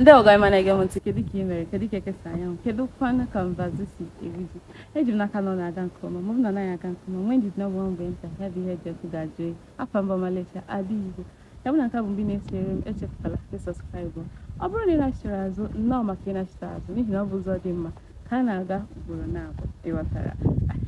Ndewo gị ọma na-ege m ntị kedu ka ị mere kedu ka eke si anya anwụ kedu kwanụ ka mbazụ si eru ji eji m n'aka na ọ na-aga nke ọma ma ọ bụ na ọ naghị aga nke ọma nwee ndidi na ọ bụ nwa mgbe nta ya bụ ihe dị ọkụ ga-ajụ oyi afa m bụ Amarachi ada Igbo ya bụ na nke a bụ mbụ ị na-esonyere m echefukwala ịsọskraịbụ ọ bụrụ na ị nachitara azụ nnọọ maka ịnachite azụ n'ihi na ọ bụ ụzọ dị mma ka a na-aga ugboro naabọ ịghọtara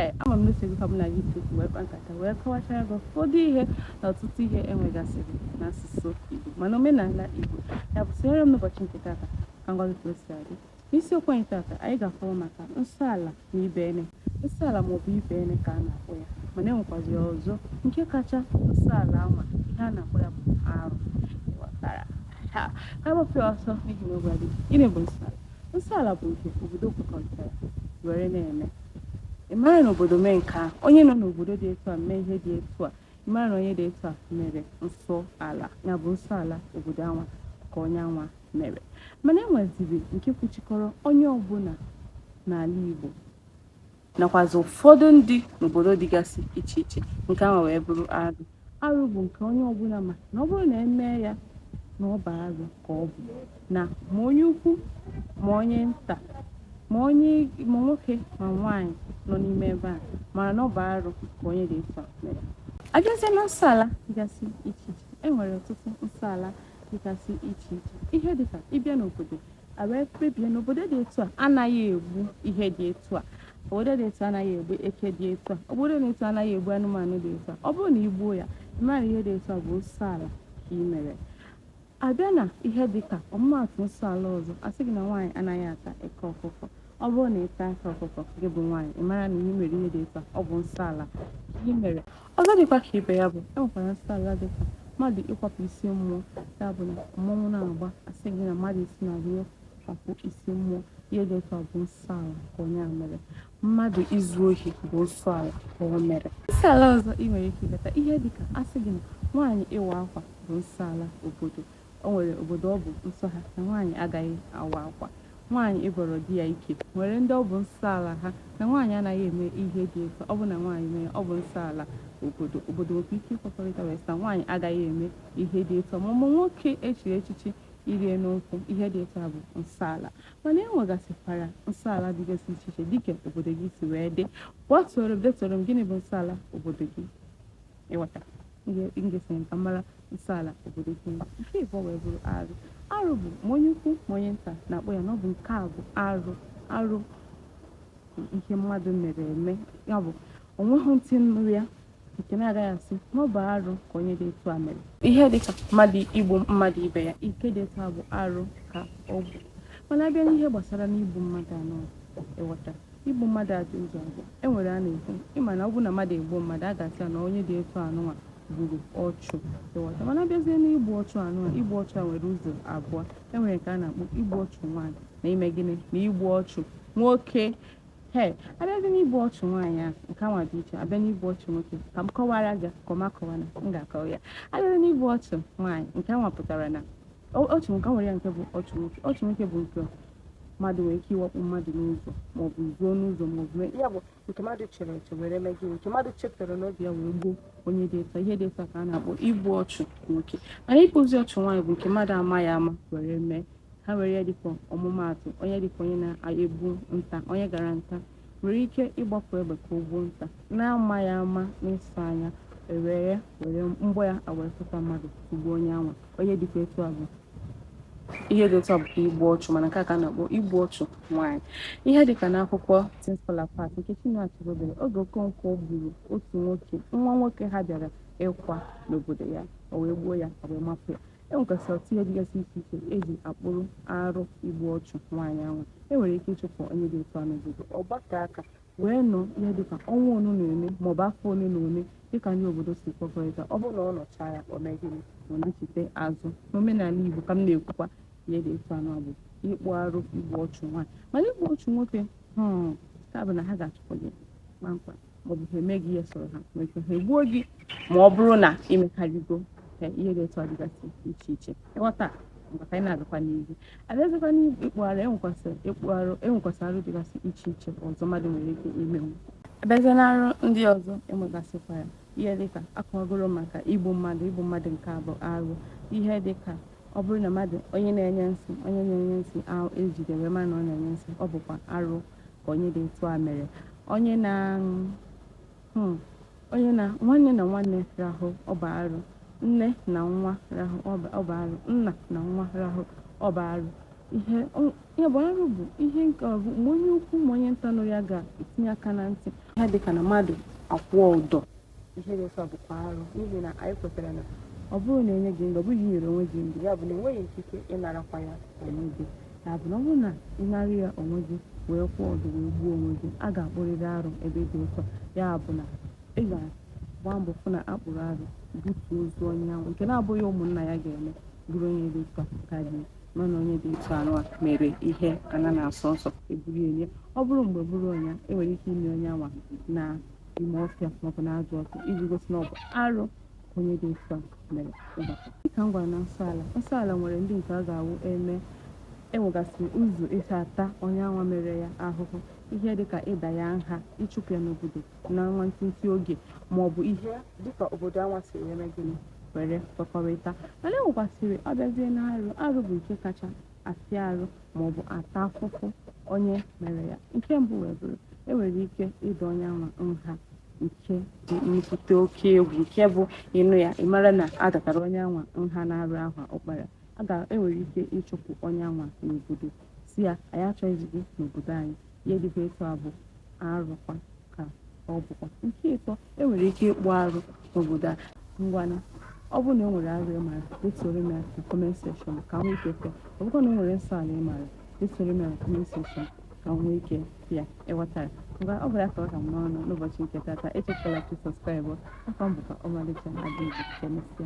ee ama m n'uche gị ka m na gị tukwu wee kpa nkata wee kọwachara gị ụfọdụ ihe na ọtụtụ ihe enwegasịrị n'asụsụ Igbo ma n'omenala Igbo ya bụ sonyere m n'ụbọchị nke tata ka m gwa gị ka o si adị n'isiokwu anyị tata anyị ga-akọwa maka nsọ ala na ibenne nsọ ala maọbụ ibenne ka a na-akpọ ya mana enwekwaziri ọzọ nke kacha nsọ ala anwa ihe a na-akpọ ya bụ arụ ịghọtara ka a gbapụ ya ọsọ n'ihi na oge adịghị gịnị bụ nsọ ala nsọ ala bụ nke obodo kwekọrịtara were na-eme ị mara na obodo mee nke a onye nọ n'obodo dị etu a mee ihe dị etu a ị mara na onye dị etu a mere nsọ ala ya bụ nsọ ala obodo anwa ka onye anwa mere mana e nweziri nke kwuchikọrọ onye ọbụla n'ala Igbo nakwazị ụfọdụ ndị n'obodo dịgasị iche iche nke ahụ wee bụrụ arụ arụ bụ nke onye ọbụla ma na ọ bụrụ na emee ya na ọ bụ arụ ka ọ bụ na ma onye ukwu ma onye nta ma nwoke ma nwaanyị nọ n'ime ebe a mara na ọ bụ arụ ka onye dị etu a mere abịazie na nsọala dịgasị iche iche e nwere ọtụtụ nsọala dịgasị iche iche ihe dịka ịbịa n'obodo a wee kpebie na obodo dị etu a anaghị egbu ihe dị etu a obodo dị etu a anaghị egbu eke dị etu a obodo dị etu a anaghị egbu anụmanụ dị etu a ọ bụrụ na i gbuo ya mara ihe dị etu a bụ nsọ ala ka ị mere abịa na ihe dịka ọmụmaatụ nsọ ala ọzọ a sị gị na nwaanyị anaghị ata eke ọkụkọ ọ bụrụ na ị taa eke ọkụkọ gị bụ nwaanyị ị mara na ị mere ihe dị etu a ọ bụ nsọ ala ka ị mere Ọzọ dịkwa ka ibe ya bụ e nwekwara nsọ ala dị ka mmadụ ịkwapụ isi mmụọ ya bụ na mmọnwụ na-agba asị gị na mmadụ isi na ruo kwapụ isi mmụọ ihe dị otu a bụ nsọ ala ka onye a mere mmadụ izu ohi bụ nsọ ala ka o mere nsọ ala ọzọ ị nwere ike ileta ihe dị ka asị gị na nwaanyị ịwa akwa bụ nsọ ala obodo O nwere obodo ọ bụ nsọ ha na nwaanyị agaghị awa akwa. Nwaanyị ịbọrọ di ya ike e nwere ndị ọ bụ nsọ ala ha na nwaanyị anaghị eme ihe dị otu a. Ọ bụrụ na nwaanyị mee ya, ọ bụ nsọ ala obodo. Obodo nwekwa ike ịkwekọrịta wee sị na nwaanyị agaghị eme ihe dị otu a. Ma ọ bụ nwoke e chiri echichi iri elu nkwụ, ihe dị otu a bụ nsọ ala. Mana e nwegasịkwara nsọ ala dịgasị iche iche dịka obodo gị si wee dị. Kpọtụrụ m, detuoro m, gịnị bụ nsọ ala obodo gị? ịghọta na i kwesịrị ka ị mara nsọala obodo gị nke ịbọ wee bụrụ arụ arụ bụ ma onye ukwu ma onye nta na-akpọ ya na ọ bụ nke a bụ arụ arụ ihe mmadụ mere eme ya bụ onweghị ntị nụrụ ya nke na-agaghị asị na ọ bụ arụ ka onye dị etu a mere ihe dịka mmadụ igbu mmadụ ibe ya ihe dị etu a bụ arụ ka ọ bụ mana abịa n'ihe gbasara n'igbu mmadụ anwa ịghọta Igbu mmadụ a dị ụzọ abụọ. E nwere a na-ekwu, ị ma na ọ bụrụ na mmadụ egbuo mmadụ, a ga-asị ya na onye dị etu anụnwa gburu ọchụ. Ịghọta? Mana abịazie n'igbu ọchụ anụnwa, igbu ọchụ a nwere ụzọ abụọ. E nwere nke a na-akpọ igbu ọchụ nwaanyị na ime gịnị na igbu ọchụ nwoke. He, abịazi n'igbu ọchụ nwaanyị a nke anwa dị iche abịa n'igbu ọchụ nwoke ka m kọwara gị ka ọma kọwana m ga-akọwa ya. Abịazi n'igbu ọchụ nwaanyị nke anwa pụtara na ọchụ nwoke nwere ya nke bụ ọchụ nwoke ọchụ nwoke bụ nke mmadụ nwere ike ịwakpo mmadụ n'ụzọ maọbụ zuo n'ụzọ maọbụ mee ya bụ nke mmadụ chere eche were mee gịnị nke mmadụ chetara n'obi ya wee gbuo onye dị etu a. ihe dị etu a ka a na-akpọ igbu ọchụ nwoke mana igbuzi ọchụ nwaanyị bụ nke mmadụ amaghị ama were mee ha were ya dịka ọmụmaatụ onye dịka onye na-egbu nta onye gara nta nwere ike ịgbapụ egbe ka o gbuo nta na-amaghị ama n'ịsụ anya ewere were mgbọ ya awee tụta mmadụ tụgbuo onye anwa onye dịkwa etu a bụ ihe dị otu a bụkwa igbu ọchụ mana nke a ka a na-akpọ igbu ọchụ nwaanyị ihe dịka n'akwụkwọ Things Fall Apart nke Chinua Achebe dere oge Okonkwo gburu otu nwoke nwa nwoke ha bịara ịkwa n'obodo ya o wee gbuo ya e wee mapụ ya e nwekwasịrị ọtụtụ ihe dịgasị iche iche eji akpụrụ arụ igbu ọchụ nwaanyị ahụ e nwere ike ịchụpụ onye dị otu a n'obodo ọ gbakọọ aka wee nọ ihe dịka ọnwa ole na ole maọbụ afọ ole na ole dịka ndị obodo si kwekọrịta ọ bụrụ na ọ nọchaa ya o mee gịnị ọ nachite azụ n'omenala igbo ka m na-ekwukwa ihe dị etu anwa bụ ịkpụ arụ igbu ọchụ nwaanyị mana igbu ọchụ nwoke hmm, nke a bụ na ha ga-achụpụ gị kpamkpam maọbụ ha eme gị ihe sọrọ ha nwere ike ha egbuo gị ma ọ bụrụ na imekarịgo ka ihe dị etu a dịgasị iche iche ịghọta mana ka anyị na-agakwa n'ihu abịazikwa n'ihe ịkpụ arụ enwekwasị ịkpụ arụ enwekwasị arụ dịgasị iche iche ọzọ mmadụ nwere ike imenwu abịazịa na arụ ndị ọzọ enwegasịkwa ya ihe dịka akọwagoro maka igbu mmadụ igbu mmadụ nke a bụ arụ ihe dịka ọ bụrụ na mmadụ onye na-enye nsị onye na-enye nsị ahụ ejide wee mara na ọ na-enye nsị ọ bụkwa arụ ka onye dị otu a mere onye na hmm, onye na nwanne na nwanne rahụ ọ bụ arụ nne na nwa rahụ ọ bụ arụ nna na nwa rahụ ọ bụ arụ ihe ya bụ arụ bụ ihe nke ọ bụ ma onye ukwu ma onye nta nụrụ ya ga-etinye aka na ntị ihe dịka na mmadụ akwụọ ụdọ ihe dị otu a bụkwa arụ n'ihi na anyị kwetara na ọ bụrụ na enye gị ndụ ọ bụghị inyere onwe gị ndụ ya bụ na ị nweghị ikike ịnarakwa ya onwe gị ya bụ na ọ bụrụ na ị nara ya onwe gị wee kwụọ ụdọ wee gbuo onwe gị a ga-akpụrịrị arụ ebe dị otu a ya bụ na ị ga-agba mbọ fụ na akpụrụ arụ butuo ozu onye ahụ nke na-abụghị ụmụnna ya ga-eme bụrụ onye dị otu a ka eji mara na onye dị otu anwa mere ihe ana na-asọ nsọ eburu enie ọ bụrụ mgbe bụrụ onye e nwere ike ini onye anwa na ime ọfịa maọbụ na ajọ ọfịa iji gosi na ọ bụ arụ onye dị otu a mere ụbọchị dịka m gwara na nsọ ala nsọ ala nwere ndị nke a ga-awụ eme enwegasịrị ụzọ esi ata onye anwa mere ya ahụhụ ihe dịka ịda ya nha ịchụpụ ya n'obodo na nwa ntịntị oge ma ọ bụ ihe dịka obodo anwa siri mee gịnị were kwekọrịta mana enwekwasịrị ọbịazie na arụ arụ bụ nke kacha afịa arụ maọbụ ata afụfụ onye mere ya nke mbụ wee bụrụ enwere ike ịda onye anwa nha nke dị nnukwute oke egwu nke bụ ị nụ ya ị mara na a datara onye anwa nha na arụ ahụ ọ kpara enwere ike ịchụpụ onye anwa n'obodo sị ya anyị achọghịzi gị n'obodo anyị ihe dịkwa etu a bụ arụkwa ka ọ bụkwa nke ịtọ enwere ike ịkpụ arụ n'obodo a ngwanụ ọ bụrụ na e nwere arụ ị mara detuoro m ya na comment section ka m nwee ike fụ ya ọ bụkwa na e nwere nsọ ala ị mara detuoro m ya na comment section ka m nwee ike fụ ya ị ghọtara ngwa ọ bụla ka ọ ha m n'ọnụ n'ụbọchị nke tata echefukwala ka ị subscribe afa m bụkwa ọmalịcha ada igbo ka emesịa